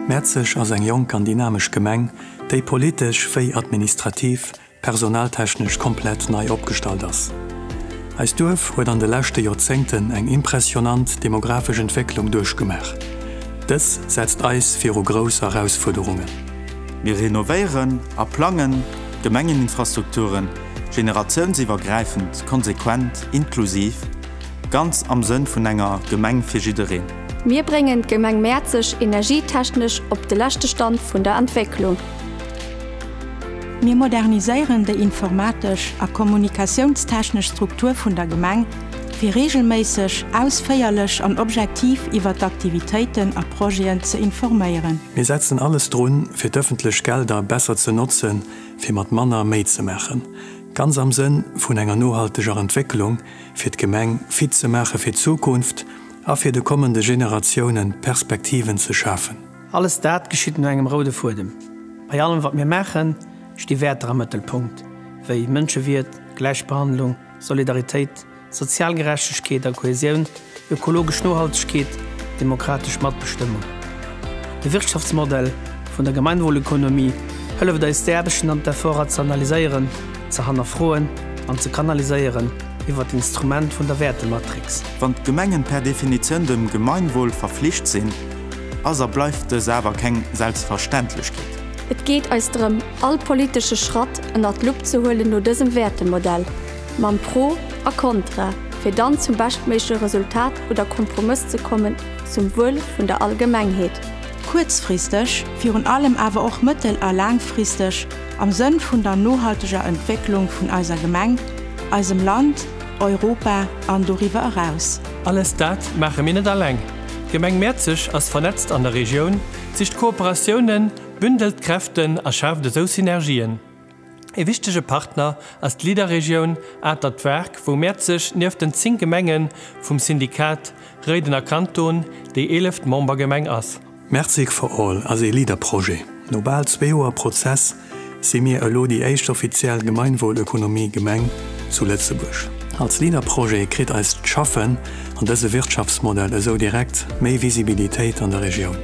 Mäerzeg ass eng jonk an dynamesch Gemeng, déi politesch wéi administrativ, personaltechnesch komplett nei opgestallt ass. Eist Duerf huet an de leschte Joerzéngten eng impressionant demografesch Entwécklung duerchgemaach. Dës setzt eis viru grouss Erausfuerderungen. Mir renovéieren a plangen. Gemengeninfrastrukturen, generatiounsiwwergräifend, konsequent, inklusiv, ganz am Sënn vun enger Gemeng fir jiddereen. Mir bréngen d'Gemeng Mäerzeg energietechnesch op de leschte Stand vun der Entwécklung. Mir moderniséieren déi informatesch a kommunikatiounstechnesch Struktur vun der Gemeng, fir reegelméisseg, ausféierlech an objektiv iwwer d'Aktivitéiten a Projeten ze informéieren. Mir setzen alles drun, fir d'ëffentlech Gelder besser ze notzen, fir mat manner méi ze maachen, ganz am Sënn vun enger nohalteger Entwécklung, fir d'Gemeng fit ze maache fir d'Zukunft a fir de kommende Generatiounen Perspektiven ze schafen. Alles dat geschitt no engem roude Fuedem. Bei allem, wat mir maachen, sti Wäerter am Mëttelpunkt, wéi Mënschewiert, Gläichbehandlung, Solidaritéit, Sozial Gerechtegkeet a Kohäsioun, ökologesch Nohaltegkeet, demokratesch Matbestëmmung. De Wirtschaftsmodell vun der Gemeinwohlökonomie hëlleft eis d'Aarbechten an d'Efforter ze analyséieren, ze hannerfroen an ze kanaliséieren iwwert d'Instrument vun der Wäertematrix. Wann d'Gemengen per Definitioun dem Gemeinwohl verflicht sinn, ass a bleift dës awer keng Selbstverständlechkeet. Et geet eis drëm, all politesche Schratt ënnert d'Lupp ze huelen no dësem Wäertemodell. Mam Pro a Kontra, fir dann zum beschtméigleche Resultat oder Kompromëss ze kommen zum Wuel vun der Allgemengheet. Kuerzfristeg, virun allem awer och mëttel a laangfristeg, am Sënn vun der nohalteger Entwécklung vun eiser Gemeng, eisem Land, Europa an doriwwer eraus. Alles dat maache mir net alleng. D'Gemeng Mäerzeg ass vernetzt an der Regioun, sicht Kooperatiounen, bündelt Kräften a schaaft esou Synergien. Ee wichtege Partner ass d'Leader-Regioun Atert Wark, wou Mäerz sech nieft den 10 Gemenge vum Syndikat Réidener Kanton déi eeleft Membergemeng ass. Mertzig for All ass ee Leader-Projet. No bal zwee Joer Prozess si mir elo déi éischt offiziell Gemeinwohlökonomie-Gemeng zu Lëtzebuerg. Als Leader-Projet kritt eist Schaffen an dëse Wirtschaftsmodell esou direkt méi Visibilitéit an der Regioun.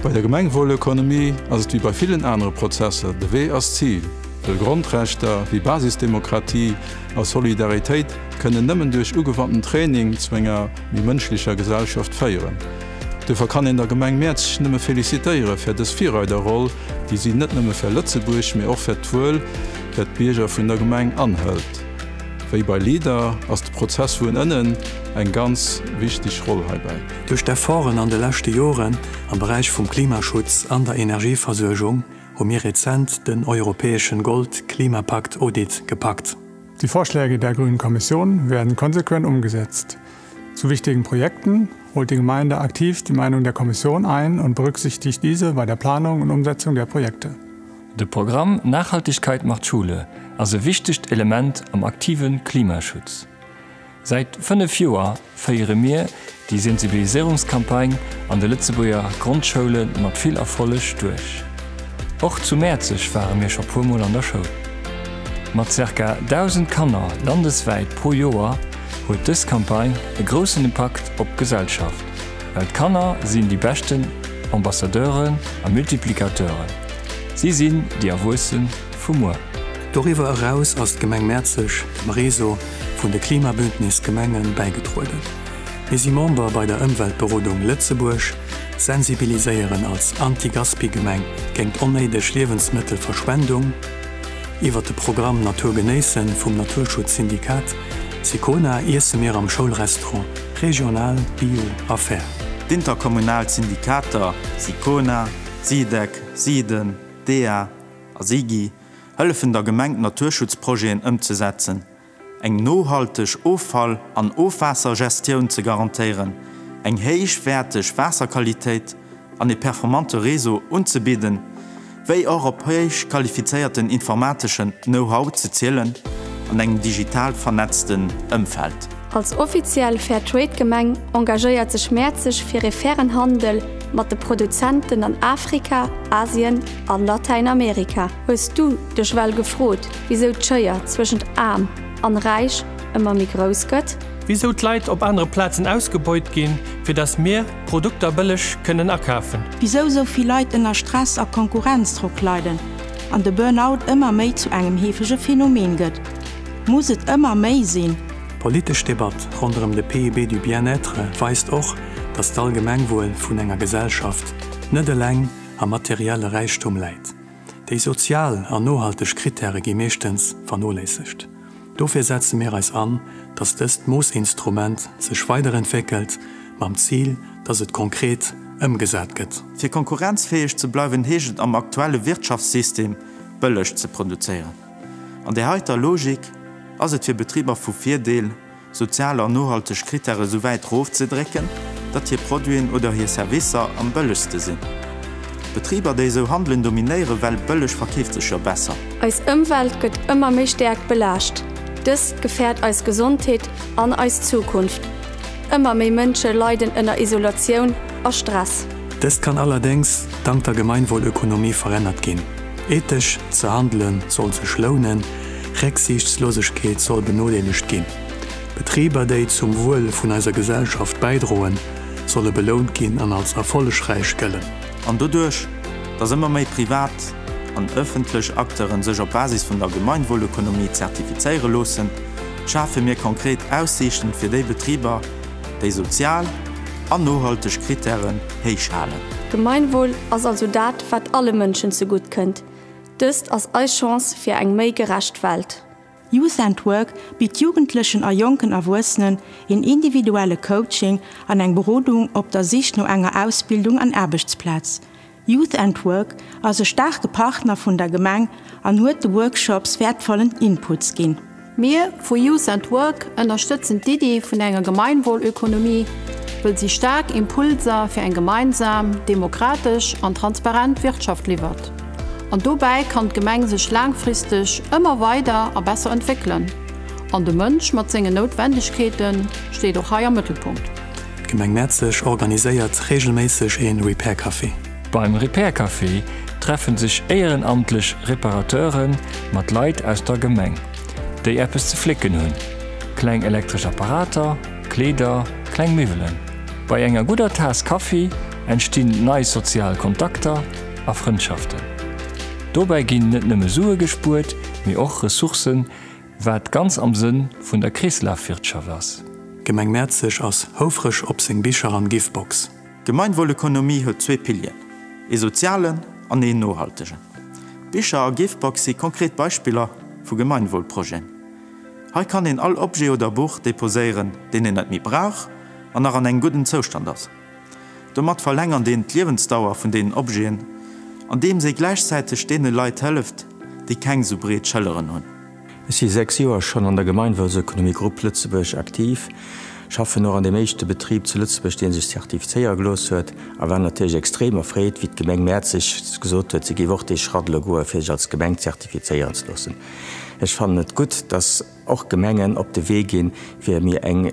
Bei der Gemengwuelökonomie ass et wéi bei villen anere Prozesser, de Wee ass d'Zil, well Grondrechter wéi Basisdemokratie a Solidaritéit kënnen nëmmen duerch ugewandten Training zu enger méi mënschlecher Gesellschaft féieren. Duerfir kann een der Gemeng Mäerzeg nëmme felicitéiere fir dës Virreiderroll, déi si net nëmme fir Lëtzebuerg, mee och fir d'Wuel fir d'Bierger vun der Gemeng anhëlt. Wéi bei LEADER ass de Prozess vun ënnen eng ganz wichteg Roll heibäi. Duerch d'Efforten an de leschte Joren am Beräich vum Klimaschutz an der Energieversuergung hu mir rezent den europäeschen Gold-Klimapakt Audit gepackt. Die Vorschläge der Grünen Kommission werden konsequent umgesetzt. Zu wichtigen Projekten holt die Gemeinde aktiv die Meinung der Kommission ein und berücksichtigt diese bei der Planung und Umsetzung der Projekte. De Programm Nachhaltigkeit macht Schule ass e wichtegt Element am aktive Klimaschutz. Säit 5 Joer féiere mir déi Sensibiliséierungscampagne an de Lëtzebuerger Grondschoulen mat vill Erfolleg duerch. Och zu Mäerzeg ware mir scho puer Mol an der Schoul. Mat zirka 1.000 Kanner landeswäit pro Joer huet dës Campagne e groussen Impakt op d'Gesellschaft, well d'Kanner sinn déi beschten Ambassadeuren a Multiplicateuren, si sinn déi Erwuessen, vu muer. Doriwwer eraus ass d'Gemeng Mäerzeg dem Réseau vun de Klimabündnis Gemenge bäigedrueden. Mir si Member bei der Ëmweltberodung Lëtzebuerg, sensibiliséieren als Anti-Gaspi-Gemeng géingt onnéideg Liewensmëttelverschwendung. Iwwer de Programm Natur genéissen vum Naturschutzsyndikat Sicona iesse mir am Schoulrestaurant regional, bio a fair. D'interkommunal Syndikater Sicona, Sidec, Siden, dea, A si gi hëllefen der Gemeng d'Naturschutzprojeten ëmzesetzen, eng nohalteg Offall an Ofwaassergestioun ze garantéieren, eng héichwäerteg Waasserqualitéit an e performante Réseau unzebidden, wéi och op héich qualifizéierten informateschen Know-how ze zielen an engem digital vernetzten Ëmfeld. Als offiziell Fairtrade-Gemeng engagéiert sech Mäerzeg fir ee fairen Handel mat de Produzenten an Afrika, Asien a Latäinamerika. Hues du dech well gefrot, wisou d'Schéier zwëschent Aarm an Räich ëmmer méi grouss gëtt? Wisou d'Leit op anere Plazen ausgebeut ginn, fir dass mir d'Produkter bëlleg kënnen akafen? Wisou sou vill Leit ënner Stress a Konkurrenzdrock leiden an de Burnout ëmmer méi zu engem heefege Phänomen gëtt? Muss et ëmmer méi sinn? D'politesch Debatt ronderëm de PIB du bien-être weist och, datt d'Allgemengwuel vun enger Gesellschaft net eleng am materielle Räichtum läit. Déi sozial an nohalteg Krittäre gi meeschtens vernoléissegt. Dofir setze mir eis an, datt dëst Moossinstrument sech weiderentwéckelt, mam Zil, datt et konkret ëmgesat gëtt. Fir konkurrenzfäeg ze bleiwen, heescht et am aktuelle Wirtschaftssystem, bëlleg ze produzéieren. An där heiter Logik ass et fir Betriber vu Virdeel, sozial an nohalteg Krittäre sou wäit rofzedrécken, datt hir Produiten oder hir Servicer am bëllegste sinn. Betriber, déi esou handelen, dominéieren, well bëlleg verkeeft sech jo besser. Eis Ëmwelt gëtt ëmmer méi stäerk belaascht. Dëst gefäert eis Gesondheet an eis Zukunft. Ëmmer méi Mënsche leiden ënner Isolatioun a Stress. Dëst kann allerdéngs dank der Gemeinwohlökonomie verännert ginn. Ethesch ze handelen soll sech lounen, Récksiichtslosegkeet soll benodeelegt ginn. Betriber, déi zum Wuel vun eiser Gesellschaft bäidroen, solle belount ginn an als erfollegräich gëllen. An doduerch, dass ëmmer méi privat an ëffentlech Acteuren sech op Basis vun der Gemeinwohlökonomie zertifizéiere loossen, schafe mir konkret Aussiichten fir déi Betriber, déi sozial an nohalteg Krittären héich halen. Gemeinwohl ass also dat, wat alle Mënschen zegutt kënnt. Dëst ass eis Chance fir eng méi gerecht Welt. Youth and Work bitt Jugendlechen a jonken Erwuessenen een individuelle Coaching an eng Berodung op der Sich no enger Ausbildung an Aarbechtsplaz. Youth and Work ass e staarke Partner vun der Gemeng an huet de Workshops wäertvollen Inputs ginn. Mir vu Youth at Work ënnerstëtzen d'Iddi vun enger Gemeinwohlökonomie, wëll si staark Impulser fir eng gemeinsam, demokratesch an transparent Wirtschaft liwwert. An dobäi kann d'Gemeng sech laangfristeg ëmmer weider a besser entwéckelen. An de Mënsch mat sengen Noutwendegkeete steet och hei am Mëttelpunkt. D'Gemeng Mäerzeg organiséiert reegelméisseg ee Repair Café. Beim Repair-Café treffen sech éierenamtlech Reparateure mat Leit aus der Gemeng, déi eppes ze flécken hunn, kleng elektresch Apparater, Kleeder, kleng Miwwelen. Bei enger gudder Taass Kaffi entstinn nei sozial Kontakter a Frëndschaften. Dobäi ginn net nëmme Sue gespuert, mee och Ressourcen, wat ganz am Sënn vun der Kreeslafwirtschaft ass. D'Gemeng Mäerzeg ass houfreg op seng Bicher an Givebox. D'Gemeinwohlökonomie huet zwee Pilieren, ee sozialen an een nohaltegen. D'Bicher a Givebox si konkret Beispiller vu Gemeinwohlprojeten. Hei kann een all Objet oder Buch deposéieren, deen een net méi brauch an nach an engem gudden Zoustand ass. Domat verlängert een d'Liewensdauer vun deenen Objeten, andeems ee gläichzäiteg deene Leit hëlleft, déi keng sou breet Schëlleren hunn. Ech si 6 Joer schonn an der Gemeinwohlseconomie Groupe Lëtzebuerg aktiv, schaffen och an deem éischte Betrib zu Lëtzebuerg, dee sech zertifizéiere gelooss huet a war natierlech extrem erfreet, wéi d'Gemeng Mäerzeg gesot huet, si géif och dee Schratt elo goen, fir sech als Gemeng zertifizéieren ze loossen. Ech fannen et gutt, dass och Gemengen op de Wee ginn, fir mir eng.